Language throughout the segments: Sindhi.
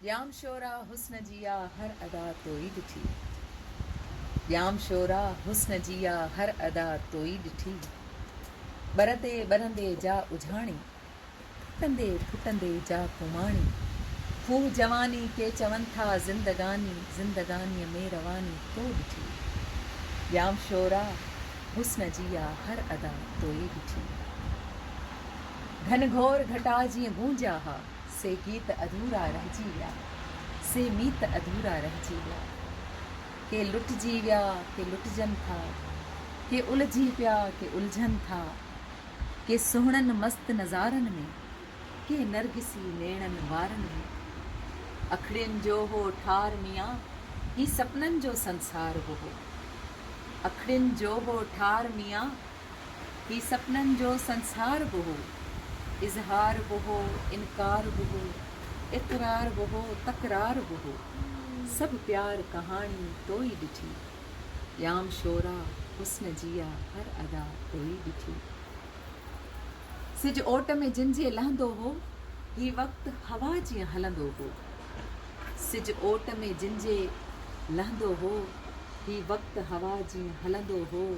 ڄام شورا حسن جي آ هر ادا توئي ڏٺي ڄام شورا حسن جي آ هر ادا توئي ڏٺي ٻر تي ٻرندي جا اجهاڻي ڦٽندي ڦٽندي جا ڪوماڻي کوهه جواني ڪي چون ٿا زندگاني زندگاني ۾ رواني تو ڏٺي ڄام شورا حسن جي آ هر ادا توئي ڏٺي گهن گهور گهٽا جيئن گونجيا ها سي گيت اڌورا رهجي ويا، سي ميت اڌورا رهجي ويا. ڪي لٽجي ويا، ڪي لٽجن ٿا، ڪي الجهي پيا، ڪي الجهن ٿا، ڪي سهڻن مست نظارن ۾، ڪي نرگسي نيڻن وارن ۾. اکڙين جو هو ٺار ميان، هي سپنن جو سنسار به هو. اکڙين جو هو ٺار ميان، هي سپنن جو سنسار به هو. اظهار به هو، انڪار به هو، اقرار به هو، تڪرار به هو. سڀ پيار ڪهاڻي تو ئي ڏٺي. ڄام شورا، حسن جيا، هر ادا تو ئي ڏٺي. سج اوٽ ۾ جن جي لهندو هو. هي وقت هوا جيئن هلندو هو. سج اوٽ ۾ جن جي لهندو هو. هي وقت هوا جيئن هلندو هو.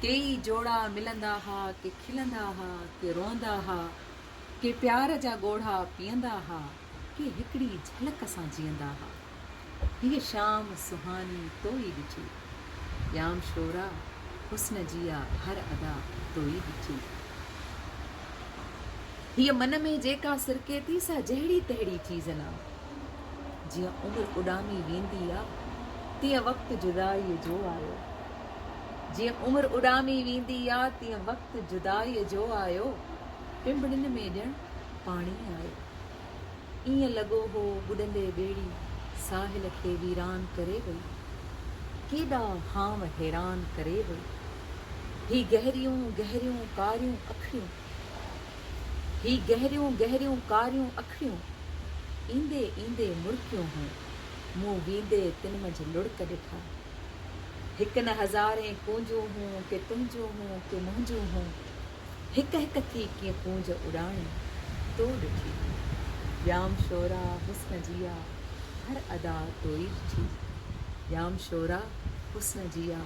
ڪيئي جوڙا ملندا ها، ڪي کلندا ها، ڪي روئندا ها، ڪي پيار جا ڳوڙها پيئندا ها، ڪي هڪڙي جهلڪ سان جيئندا ها. هيء شام سهاني تو ئي ڏٺي. ڄام شورا حسن جي آ هر ادا تو ئي ڏٺي. هيء من ۾ جيڪا سرڪي ٿي سا جهڙي تهڙي چيز نه. جيئن عمر اڏامي ويندي آ، تيئن وقت جدائيء جو آيو. جيئن عمر اڏامي ويندي آ، تيئن وقت جدائيء جو آيو. پنبڻين ۾ ڄڻ پاڻي آيو. ائين لڳو هو ٻڏندي ٻيڙي ساحل کي ويران ڪري وئي. ڪيڏا هانء حيران ڪري وئي. هي گهريون گهريون ڪاريون اکڙيون. هي گهريون گهريون ڪاريون اکڙيون، ايندي ايندي مرڪيون هون. مون ويندي تن منجهه لڙڪ ڏٺا. هڪ نه هزارين ڪونجون هون، ڪي تنهنجون هون، ڪي منهنجون هون. هڪ هڪ ٿي ڪيئن ڪونج اڏاڻي، تو ڏٺي هئي. ڄام شورا حسن جيا، هر ادا تو ئي ڏٺي. ڄام شورا حسن جيا،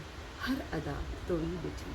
هر ادا تو ئي ڏٺي.